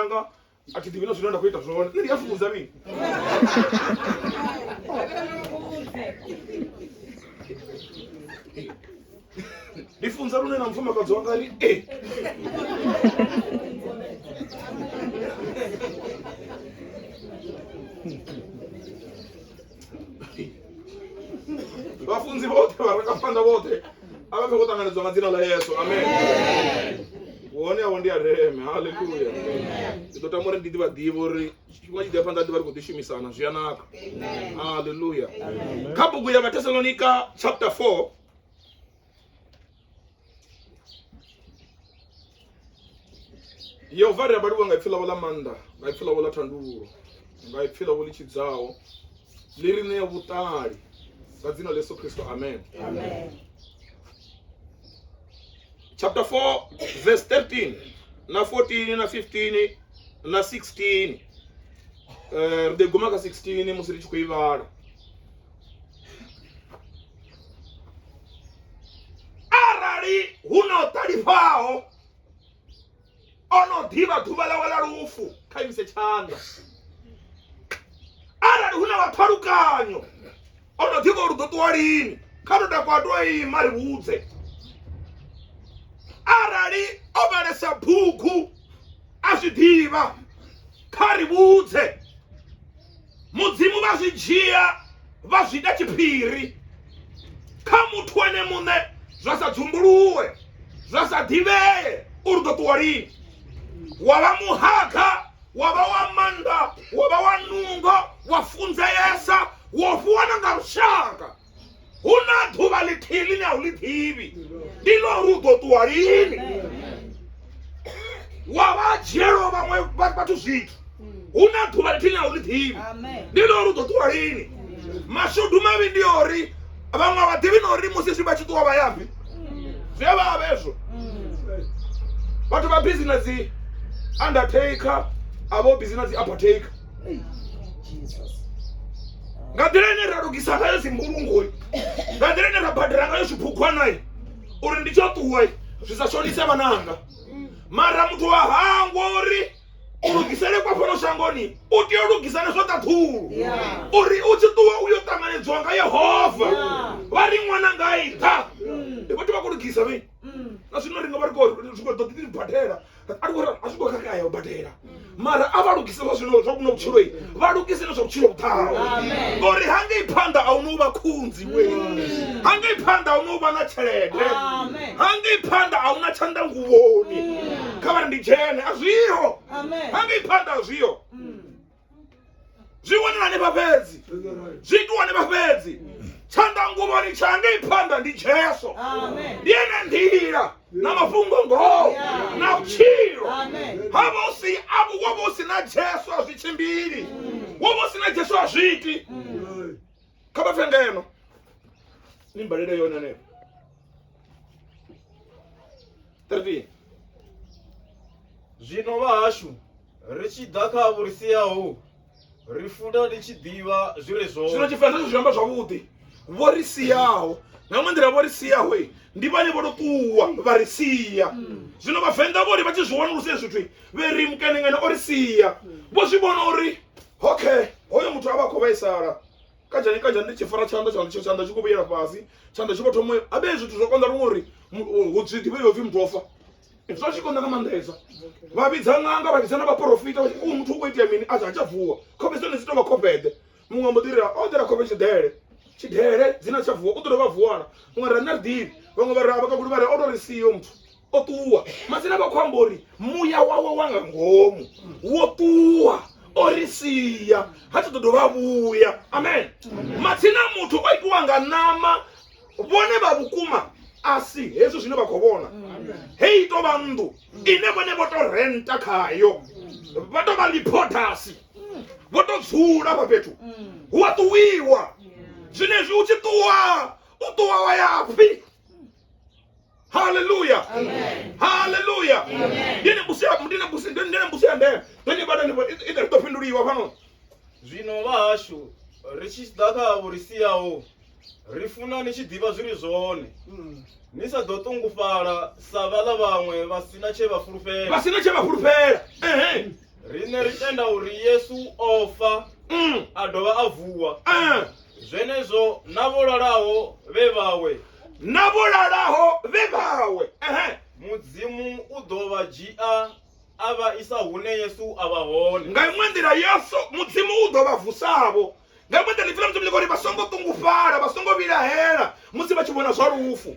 anga a thi ḓivhi na zwine nda khou ita zwone nṋe ndi a fhunza mini ndi funza lune na mufumakadzi wanga ri e vhafunzi vhoṱhe vharangaphanḓa vhoṱhe a vha fhe khou ṱanganedzwa nga dzina ḽa yesu amen hone avho ndi a ndeme haleluya ndi ḓo tama uri ndi ḓivha ḓivha uri tshifhinga tshi ḓa phanḓa ḓivha ri khou ḓishumisana zwi a naka haleluya kha bugu ya vhathesalonika chapter 4 yehova ri abaliwa nga ipfi lavo la maanḓa nga ipfi lavo la thandululo nga ipfi lavo ḽi tshidzaho ḽi ri ṋea vhuṱali nga dzina ḽa yesu kristo amen, amen. chapter 4 verse 13 na 14 na 15 na 16 eh, ri ḓo guma kha 16 musi ri tshi khou i vhala arali hu na o ṱalifhaho o no ḓivha ḓuvha ḽawe ḽa lufu kha imise tshanḓa arali hu na vhathalukanyo o no ḓivha uri ḓo ṱuwa lini kha to takwa to ima ri vhudze arali o vhalesa bugu a zwi ḓivha kha ri vhudze mudzimu vha zwi dzhia vha zwi ita tshiphiri kha muthu ene muṋe zwa sa dzumbuluwe zwa sa ḓivhee uri ḓo ṱuwa lini wa vha muhaga wa vha wa maanḓa wa vha wa nungo wa funzeesa wo fhiwa na nga lushaka hu na ḓuvha ḽithihi ḽine a u ḽi ḓivhi ndi ḽo uri u ḓo ṱuwa lini wa vha dzhielo vhaṅwe vhathu zwithu hu na ḓuvha ḽithihi ḽine a u ḽi ḓivhi ndi ḽo uri u ḓo ṱuwa lini mashudu mavhi ndi ori vhaṅwe a vha ḓivhi na uri musi zwi vha tshi ṱuwa vha yafhi zwi a vha avhezwo vhathu vha bizi na dzi undertaker a vho bizi na dzi apartaker nga nḓila ine ra lugisa ngayo dzimbulungoi nga nḓila ine ra badela ngayo zwiphukwanai uri ndi tsho ṱuwa zwi sa shonise vhananga mara muthu wa hangwa uri u lugisele kwa fhano shangoni u tea u lugisa na zwa ṱaḓulu uri u tshi ṱuwa u yo ṱanganedziwa nga yehova vha ri ṅwana nga i nṱha mm. ndi vhathu vha khou lugisa vhe mm. na zwino ri nga vha ri khou ḓo ḓi badela a ri khou a zwi khou khakhea u badela mara a vha lugise zwa zwino zwa kuno vhutshilo vha lugise na zwa vhutshilo vhuḓaho ngori hangei phanḓa a huna u vha khunzi we hangei phanḓa a huna u vha na tshelede hangei phanḓa a huna tshanḓa nguvhoni kha vha ri ndi dzhene a zwiho hangei phanḓa a zwiho mm. zwi wanala hanefha fhedzi zwi itiwa hanefha fhedzi tshanḓanguvhoni tsha ngei phanḓa ndi jesu ndi ene nḓila na mafhungo ngoho na vhutshilo ha vha u si avo wo vha u si na jesu a zwi tshimbili wo vha u si na jesu a zwi iti kha vha pfe ngeno ni mbalele yone ne 13 zwino vhahashu ri tshi ḓa kha vho ri siaho ri futa ri tshi ḓivha zwi re zwino zwone tshivenḓa zwi amba zwavhuḓi vho ri siaho nga ṅwe nḓila vho ri siaho i, ndi vhane vho tou ṱuwa vha ri sia zwino vhavenḓa vho ri vha tshi zwi wanulusa hezwi zwithu i, vhe ri mukenengene o ri sia vho zwi vhona uri okay hoyo muthu a vha khou vhaisala kanjani kanjani ndi tshi fara tshanḓa tshanḓa tsho tshanḓa tshi khou vhuyela fhasi tshanḓa tshi vho thoma a vhe zwithu zwo konḓa luṅwe uri hu zwi ḓivhe yo pfhi muthu ofa zwo tshi konḓa nga maanḓesa vha vhidza ṅanga vha vhidza na vhaporofita u muthu u khou itea mini a tsha tsha vuwa khofhe dzone dzi tou vha khofheḓe muṅwe ambo ḓira o ḓela khofhe tshidele tshidele dzina tsha vuwa u ḓo dovha vuwana muṅwe ra nṋe ri ḓivhi vhaṅwe vha ra vha kakuli vha re o tou ri siyo muthu o ṱuwa masina vha khou amba uri muya wawe wa nga ngomu wo ṱuwa o ri sia ha tsha ḓo dovha vhuya amen matsina muthu o itiwa nga ṋama vhone vha vhukuma a si hezwi zwine vha khou vhona hei i tou vha nnḓu ine vhone vho tou renta khayo vha tou vha liphotasi vho tou dzula hafha fhethu hu a ṱuwiwa zwenezwi u tshi ṱuwa u ṱuwa wa ya pfhi haleluya haleluya ndi na mbusi ya- ndi na mbusi- ndi- ndi na mbusi ya ndeme tonye bada ine ri ḓo fhinduliwa fhano zwino vhahashu ri tshi ḓa kha avho ri siyaho ri funa ni tshi ḓivha zwi ri zwone ni sa ḓo ṱungufhala sa vhaḽa vhaṅwe vha si na tshe vha fulufhela vha si na tshe vha fulufhela ehe Riṋe ri tenda uri Yesu o fa mm. a dovha a vuwa ah. zwenezwo na vho lalaho vhe vhawe na vho lalaho vhe vhawe mudzimu u ḓo vha dzhia a vha isa hune yesu a vha hone nga iṅwe nḓila yesu mudzimu u ḓo vha vusavho nga iṅwe nḓila ipfila mudzimu ḽi ngori vha songo ṱungufhala vha songo vhilahela musi vha tshi vhona zwa lufu